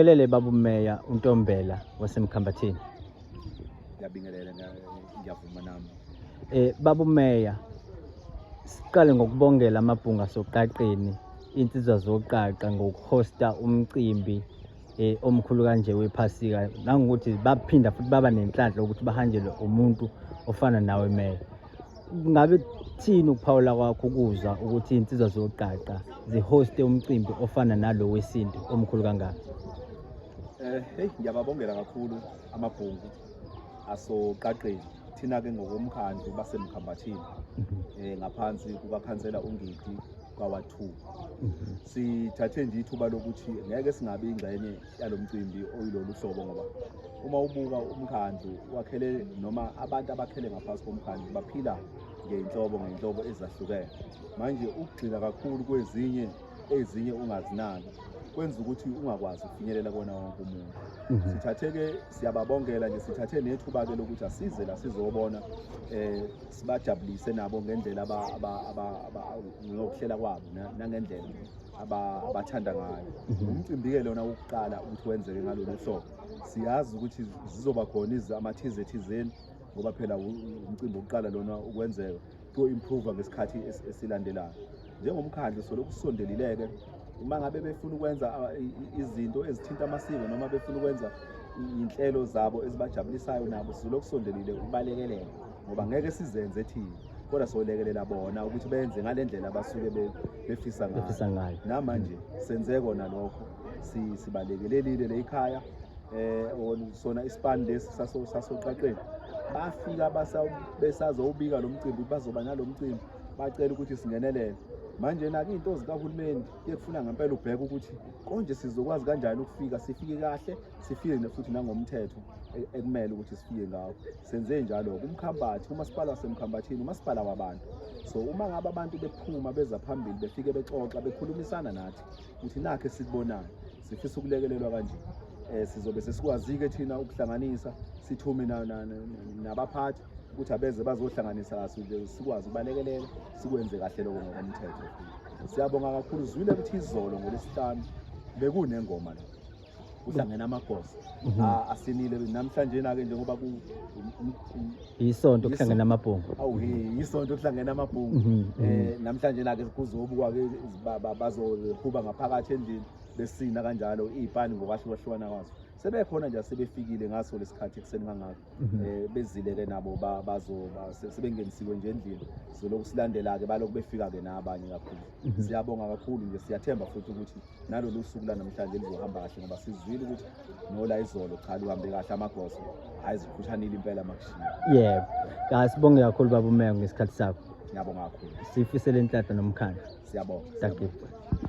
Ngelele babu Meya uNtombela waseMkhambathini. Ngiyabingelela ngiyavuma nami. Eh babu Meya siqale ngokubongela amabhunga soqaqeni insizwa zoqaqa ngokuhosta umcimbi eh omkhulu kanje wephasika nangokuthi baphinda futhi baba nenhlanhla ukuthi bahanjelwe umuntu ofana nawe Meya. ngabe kuthini ukuphawula kwakho ukuzwa ukuthi iy'nsizwa zoqaqa zihoste umcimbi ofana nalo wesintu omkhulu kangaka Eh, hey ngiyababongela kakhulu amabhungu asoqaqeni thina ke ngokomkhandlu basemkhambathini eh ngaphansi kukakhansela uNgidi kwawa2 sithathe nje ithuba lokuthi ngeke singabe ingxenye yalo mcimbi oyilolu hlobo ngoba uma ubuka umkhandlu wakhele noma abantu abakhele ngaphansi komkhandlu baphila ngey'nhlobo ngey'nhlobo ezahlukene manje ukugxila kakhulu kwezinye ezinye ungazinaki kwenza ukuthi ungakwazi ukufinyelela kona wonke umuntu mhm. sithatheke siyababongela nje sithathe nethuba-ke lokuthi asize la sizobona um sibajabulise nabo ngendlela ngokuhlela kwabo nangendlela abathanda ngayo mhm. umcimbi-ke lona wokuqala ukuthi wenzeke ngalolu hlobo siyazi ukuthi zizoba khona amathize thizeni ngoba phela umcimbi wokuqala lona ukwenzeka kuyo-improva ngesikhathi esilandelayo njengomkhandlu solokhu sisondelileke uma ngabe befuna ukwenza izinto ezithinta amasiko noma befuna ukwenza iy'nhlelo zabo ezibajabulisayo nabo sizolokhu sondelile ukubalekelela ngoba ngeke sizenze thina kodwa solekelela bona ukuthi benze ngale ndlela abasuke befisa ngayo namanje senze kona lokho sibalekelelile le ikhaya um sona isipani lesi sasoqaqeni bafika besazowubika lo mcimbi bazoba nalo mcimbi bacela ukuthi singenelele manje nake into zikahulumeni kuyekufuna ngempela ubheke ukuthi konje sizokwazi kanjani ukufika sifike kahle sifike futhi nangomthetho e-, ekumele ukuthi sifike ngawo Senze njalo kumkhambathi kumasipala wasemkhambathini umasipala wabantu so uma ngabe abantu bephuma beza phambili befike bexoxa bekhulumisana nathi ukuthi nakhe sikubonayo sifisa ukulekelelwa kanje eh sizobe sesikwazike thina ukuhlanganisa sithume nabaphathi ukuthi abeze bazohlanganisa kahle sikwazi ukubalekelela sikwenze kahle lokho ngokomthetho siyabonga kakhulu zwile ukuthi izolo ngolesihlanu bekunengoma la kuhlangene amagosa Mhm. a- asinile namhlanje na-ke njengoba ku um- um- um- Yisonto kuhlangene amabhungu. awu he yisonto kuhlangene amabhungu Mhm, mhm. eh namhlanje na-ke kuzobukwa ke ba- ba- bazohuba ngaphakathi endlini besina kanjalo iy'pani ngokwahlukahlukana kwazo sebekhona nje asebefikile ngaso lesikhathi ekuseni kangako Mhm. eh bezile-ke nabo ba- bazo ba- se- sebengenisiwe nje endlini sizolokhu silandela-ke balokhu befika-ke nabanye kakhulu Mhm. siyabonga kakhulu nje siyathemba futhi ukuthi nalolu suku lanamhlanje lizohamba kahle ngoba sizwile ukuthi nola izolo cha luhambe kahle amagoso hhayi zikhushanile impela makushiya yebo ka sibonge kakhulu baba umeya ngesikhathi sakho ngiyabonga kakhulu sifisele inhlanhla nomkhandlu siyabonga Thank you.